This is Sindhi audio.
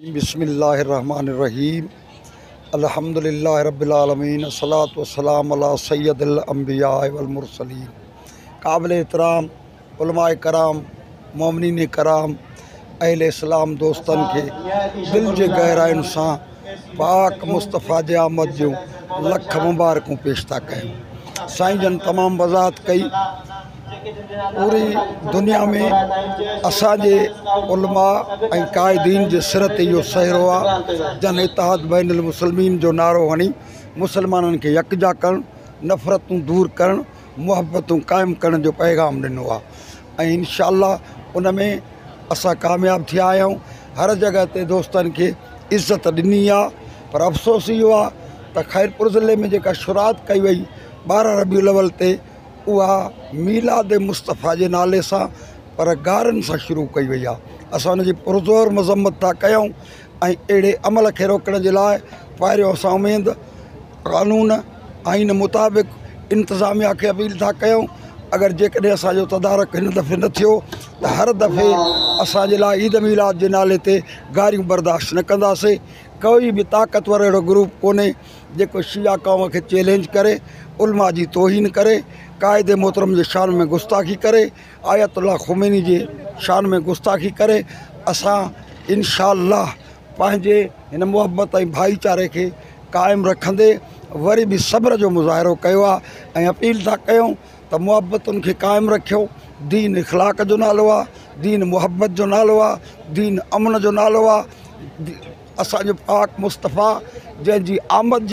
بسم الله الرحمٰن الرحيم الحمد لله رب العالمين الصلوة والسلام علي سيد الانبياء والمرسلين قابل احترام علماء ڪرام مؤمنين ڪرام اهل اسلام دوستن کي دل جي گهراين سان پاڪ مصطفيٰ جي آمد جون لک مبارڪون پيش ٿا ڪيون سائين جن تمام وضاحت ڪئي پوري دنيا ۾ اسان جي علماء ۽ قائدين جي سر تي اهو سهرو آهي جن اتحاد بين المسلمين جو نعرو هڻي مسلمانن کي يڪجا ڪرڻ نفرتون دور ڪرڻ محبتون قائم ڪرڻ جو پيغام ڏنو آهي ۽ انشاء الله ان ۾ اسان ڪامياب ٿيا آهيون هر جڳهه تي دوستن کي عزت ڏني آهي پر افسوس اهو آهي ته خيرپور ضلعي ۾ جيڪا شروعات ڪئي وئي ٻارهن ربيع الاول تي اها ميلاد مصطفيٰ جي نالي سان پر گارن سان شروع ڪئي وئي آهي اسان ان جي پرزور مذمت ٿا ڪيون ۽ اهڙي عمل کي روڪڻ جي لاء پهريون اسان اميد قانون آئين مطابق انتظاميا کي اپيل ٿا ڪيون اگر جيڪڏهن اسانجو تدارڪ هن دفعي نه ٿيو ته هر دفعي اسان جي لاء عيد ميلاد جي نالي تي گاريون برداشت نه ڪنداسين ڪوئي به طاقتور اهڙو گروپ ڪونهي جيڪو شيعه قوم کي چئلينج ڪري، علماء جي توهين ڪري، قائد محترم جي شان ۾ گستاخي ڪري، آيت الله خميني جي شان ۾ گستاخي ڪري، اسان انشاء الله پنهنجي هن محبت ۽ ڀائيچاري کي قائم رکندي وري به صبر جو مظاهرو ڪيو آهي ۽ اپيل ٿا ڪيون ته محبتن کي قائم رکيو دين اخلاق جو نالو آ دين محبت جو نالو آ دين امن جو نالو آ اسانجو پاڪ مصطفيٰ جنهنجي آمد